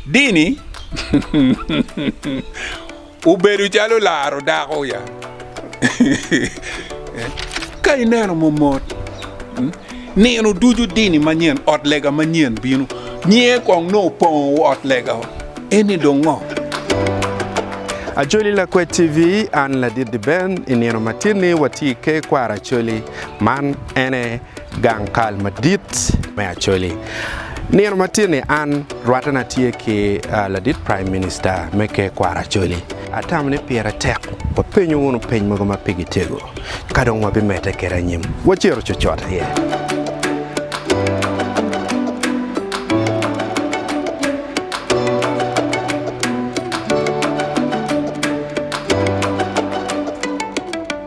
Dini obedo calo laro dako ya. Ka ineno momot, nino ducu dini manyen, ot lega manyen bino. Nyiye kong nongo opongo ot lega, eni dong ngo? Acholi Lakwet TV, An Ladit Diben, I nino matinni watye i ker kwaro Acholi. Man ene gang kal madit me Acholi. Nino matinni an rwattana tye ki ladit Prime Minister me ker kwaro Acholi. Atamo ni pire tek wapenyo wunu peny mogo ma pigi tego, ka dong wabimedde kede anyim. Wacito cocot aye.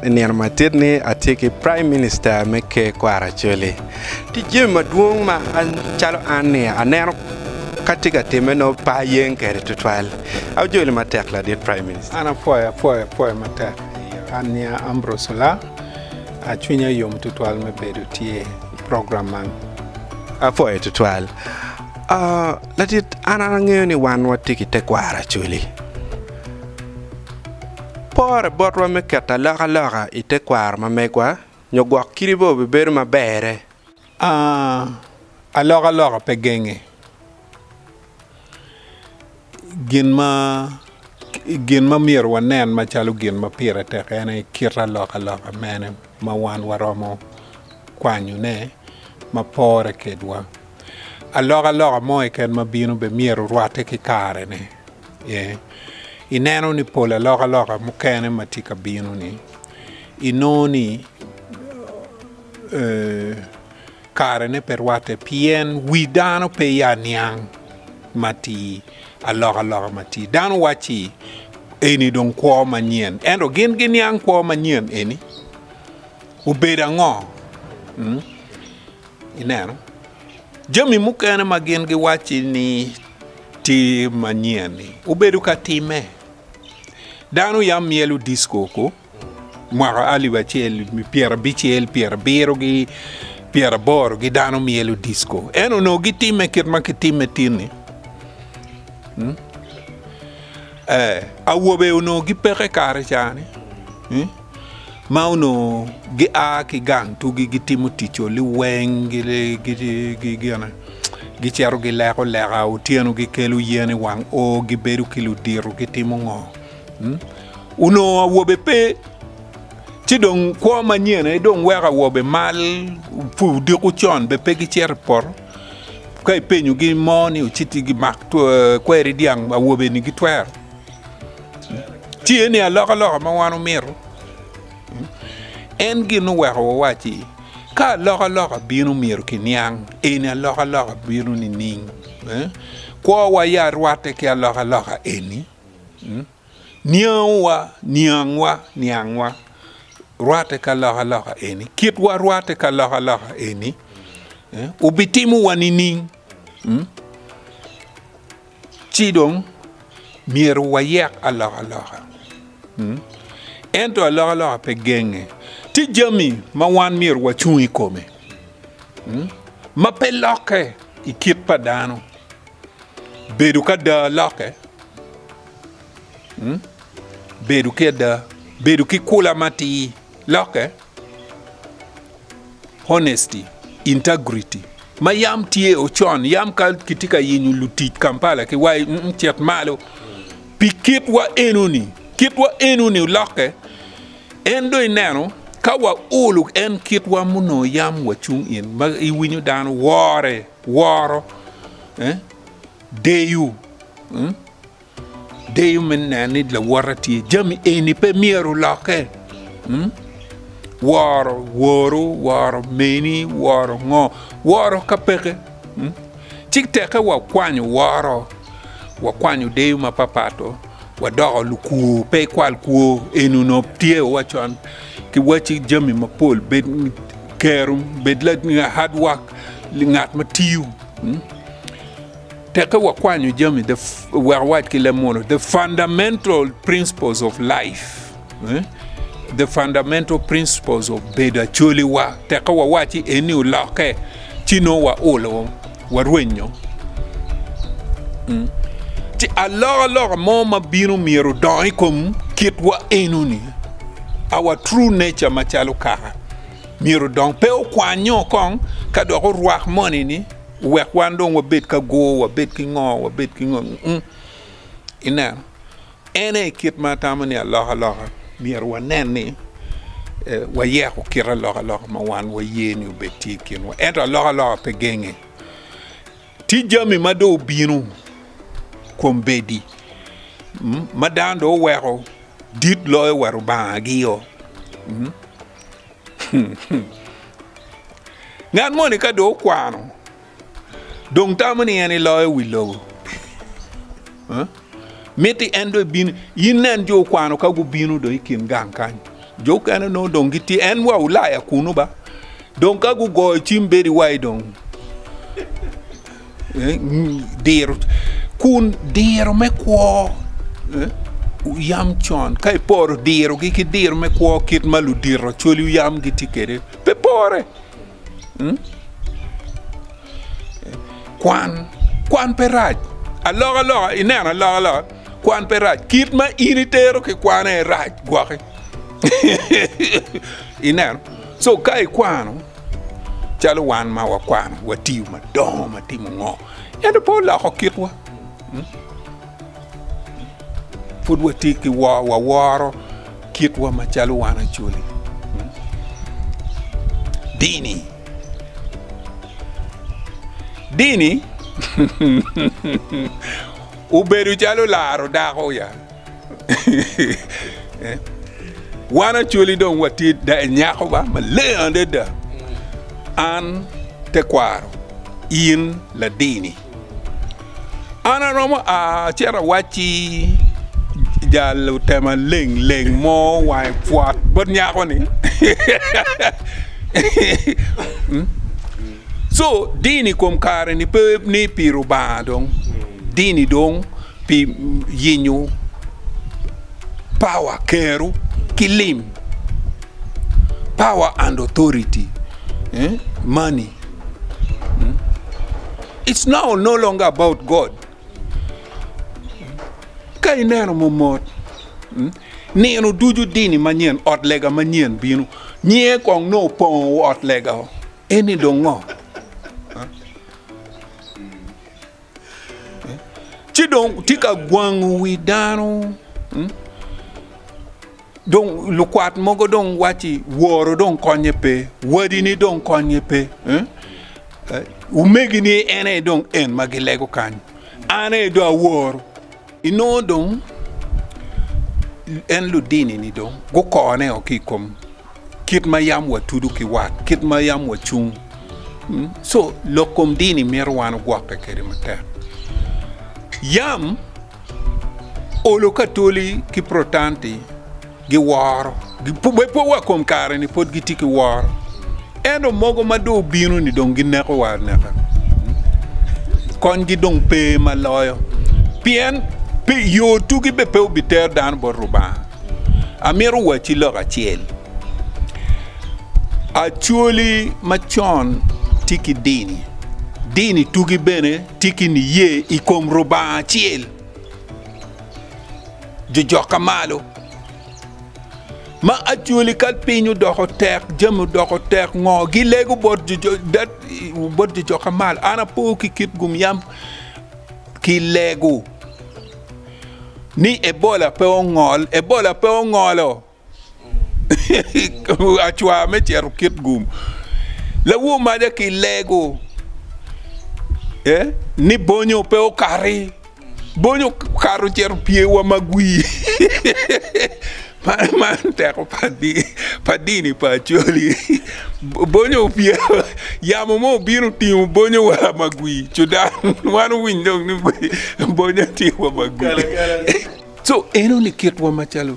I nino madit ni atye ki Prime Minister me Ker Kwaro Acholi. Tic jami madwong ma an calo an ni aneno ka tye ka timme nongo pe ayeng kede twatwal. Ajoli matek ladit Prime Minister. An apwoyo apwoyo apwoyo matek. An nyinga Ambrose Olaa. Cwinya yom twatwal me bedo tye i program man. Apwoyo twatwal. Ladit an angeyo ni wan watye ki tekwaro Acholi. Pore botwa me keto alokaloka i tekwaro ma megwa nyo gwok kidi bene obibedo ma berre. A Alokaloka pe genge gin ma myero wanen macalo gin ma pire tek en aye kit alokaloka mene ma wan waromo kwanyone ma pore kedwa. Alokaloka mo keken ma bino bene myero orwatte ki karene. Ineno ni pol alokaloka mukene ma tye ka bino-ni, inongo ni karene pe rwatte pien wi dano pe ya niang matir alokaloka ma tye. Dano wacci eni dong kwo manyen, ento gin giniang kwo manyen eni obedo ango? Ineno, jami mukene ma gin giwacci ni tye manyen-ni obedo ka timme. Dano yam myelo disko ko mwaka alip acel pyerabicel, pyerabiro ki pyeraboro gi dano myelo disko. En onongo gitimme kit ma kitimme tin-ni. Hmm? Eh, awobe onongo gipeke kare cani. Hmm? ma onongo gia ki gang tugi gitimo tico liweng gicito gileko leka otyeno gikelo yen i wang o gibedo ki ludito gitimo ngo hmm? onongo awobe pe ci dong kwo manyen aye dong weko awobe mal pu diko con be pe gicito i poto ka ipenyogi mo ni ociti gimak kweri dyang awobe ni gitwero Tye ni alokaloka ma wan omito en gin oweko wawacci ka alokaloka bino myero kiniang eni alokaloka bino nining eh? kwowa ya rwatte ki alokaloka eni mm? niangwa niangwa niangwa rwatte ka alokaloka eni kitwa rwatte ka alokaloka eni eh? obitimowa nining mm? Ci dong myero wayek alokaloka. Hmm. Ento alokaloka pe genge. Tye jami ma wan myero wacung i kome hmm, ma pe lokke i kit pa dano. Bedo ka da lokke, hmm? bedo ki ada, bedo ki kula matir lokke. honesty, integrity, ma yam tye o con, yam ka kitye ka yenyo lutic Kampala ki wai, mm, cit malo. Pi kitwa enoni, kitwa enoni olokke, en do ineno ka wa ulu en kitwa muno yam wa cung in, ma iwinyo dano wore, woro, eh, deyo, mm. Deyo me neno ni lawota tye. Jami eni pe myero lokke. Hmm? Woro woru, woro meni, woro ngo, woro ka peke. Hmm? Cik teke wakwanyo woro, wakwanyo deyo ma papato, wadoko lukur, pe ikwal kur, enu no tye wa con. Ki waci jami mapol, bed kerum, bed la hard work, ngat ma tiyo. Hmm? Tekke wakwanyo jami the wek awac ki leb munu the fundamental principles of life eh? the fundamental principles of bedo acoliwa tekke wawaci eni olokke ci nongo waulo warwenyo mm. ci alokaloka mo ma bino myero odong i kom kitwa enoni our true nature macalo kaka myero odong pe okwanyo kong ka dok orwak moni ni Wek wan dong wabed ka gur, wabed ki ngo, wabed ki ngo. Mm. Ineno, en aye kit ma atamo ni alokaloka myero wanen ni eh, wayeko kit alokaloka ma wan waye ni obed tye i kinwa. Ento alokaloka pe genge. Tye jami ma dong obino kom bedi mm, ma dano dong oweko dit loyo wa rubangagi-o. Mm. Ngat moni ka dong okwano dong tamo ni en iloyo wi lobo. Miti en do ibin in nen jo okwano ka gubino do i kin gang kany. Jo kene no dong gitye en wa Ulaya kunu ba. Dong ka gugoyo cim bedi wai dong. diro kun diro me kwo yam con ka iporo dirogi ki diro me kwo kit ma ludito cwaliu yam gitye kwede pe pore mm? kwan kwan pe rac alokaloka ineno alokaloka kwan pe rac kit ma in itero ki kwane rac gwoki ineno so ka ikwano Calo wan ma wakwano, watiyo madongo ma timo ngo, ento pe oloko kitwa. Hmm? Pud wati ki waworo kitwa ma calo wan acoli. Hmm? Dini. Dini. Obedo calo laro dako ya. Wan acoli dong watye nyako ba maleng adada an tekwaro in ladini an aromo a acito awacci jalo tema leng leng mo wange pwot bot nyako ni so dini kom kare ni pe ni pi Rubanga dong. Dini dong pi yenyo power, kero, ki lim, power and authority, money. It's now no longer about God. Ka ineno momot, nino ducu dini manyen, ot lega manyen bino, nyinge kong nongo opongo ot lega-o, eni dong ngo? ci dong tye ka gwango wi dano dong lukwat mogo dong wacci woro dong konye pe wadini dong konye pe omegini en aye dong en ma gilego kany an aye dong aworo Inongo dong en ludini-ni dong gukone o ki i kom kit ma yam watudu ki wat, kit ma yam wacung. Co, lok kom dini mito wan ogwokke kwede matek. Yam olo ka toli ki Protanti. Giworo. Gipube pwe wa kom kare-ni pwod gitye ki woro. Ento mogo ma dong obino-ni dong gineko wa aneka. Konygi dong pe ma loyo. Pien pe yo tugi be pe obitero dano bot Rubanga. Amito wacci lok acel. Acholi macon tye ki dini. Dini tugi bene tye ki niye i kom Rubanga acel. jojokka malo. Ma actually ka piny odoko tek, jami odoko tek ngo gilego bot jojo dat bot jojokka malo. An apo ki kit gum yam kilego ni Ebola pe ongol, Ebola pe ongolo. acwar me cito kit gum lawo maja ki lego eh? ni bonyo pe okati bonyo kato cito pyewa magwi man man teko pa dini pa acoli bonyo opye yamo mo obino otingo bonyo wa magwi cudan wan owiny dong ni bonyo tye wa magwi so enoni kitwa macalo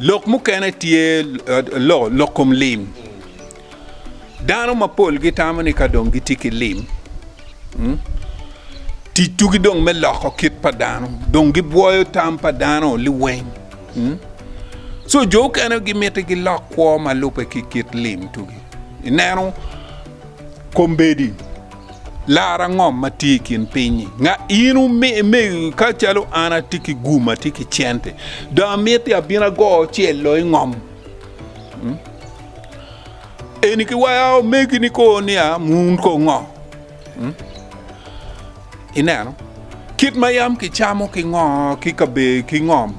Lok mukene tye lok kom lim. Dano mapol gitamo ni ka dong gitye ki lim, tic tugi dong me loko kit pa dano, dong gibwoyo tam pa dano liweng. So jo okene gimiti gilok kwo ma lube ki kit lim tugi. Ineno kombedi. Lar ango ma tye i kin piny-nyi? Nga in me ka calo an atye ki gum, atye ki cente, dong amiti abin ago cel lo ingom. Hmm? Eni ki waya omegi ni ko ni a mun ko ngo. Hmm? Ineno? Kit ma yam kicamo ki ngo ki kabe ki ngom.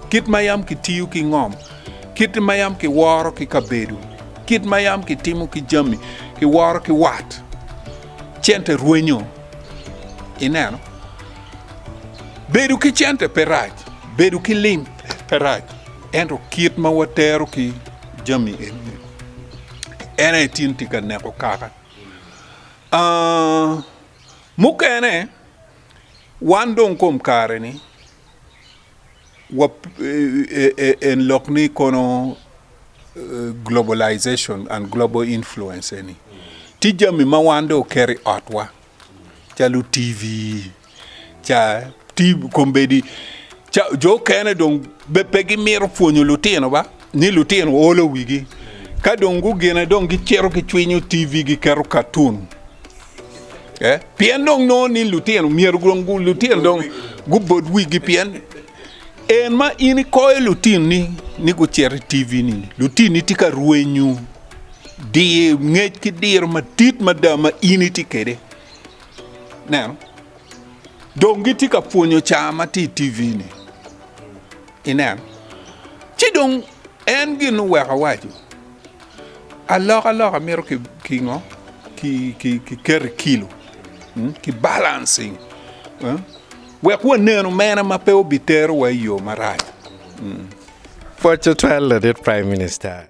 Kit ma yam kitiyo ki ngom. Kit ma yam kiworo ki kabedo, kit ma yam kitimo ki jami, kiworo ki wat, cente rwenyo. Ineno? Bedo ki cente pe rac, bedo ki lim pe rac, ento kit ma watero ki jami eni, en aye tin tye ka neko kaka. Aa, mukene, wan dong kom kare-ni, en lok ni kono globalization and global influence eni tye jami ma wan dong oketo i otwa calo TV ca kombedi ca jo okene dong be pe gimito pwonyo lutino ba ni lutino olo wigi ka dong gugine dong gicito gicwinyo TV giketo katun Eh? Pien dong nongo ni lutino myero dong lutino dong gubod wigi pien en ma in ikoyo lutino ni ni gucito i TV ni lutino ni tye ka rwenyu dir ngec ki diro madit mada ma in itye kede. Neno. Dong gitye ka pwonyo caa ma tye i TV ni. Ineno. Ci dong en gin oweko waco. Alokaloka mito ki ngo? Ki keto i kilo, ki balancing wek wanenu mene ma pe obitero wa i yo marac. Pwod tutwal ladit Prime Minister.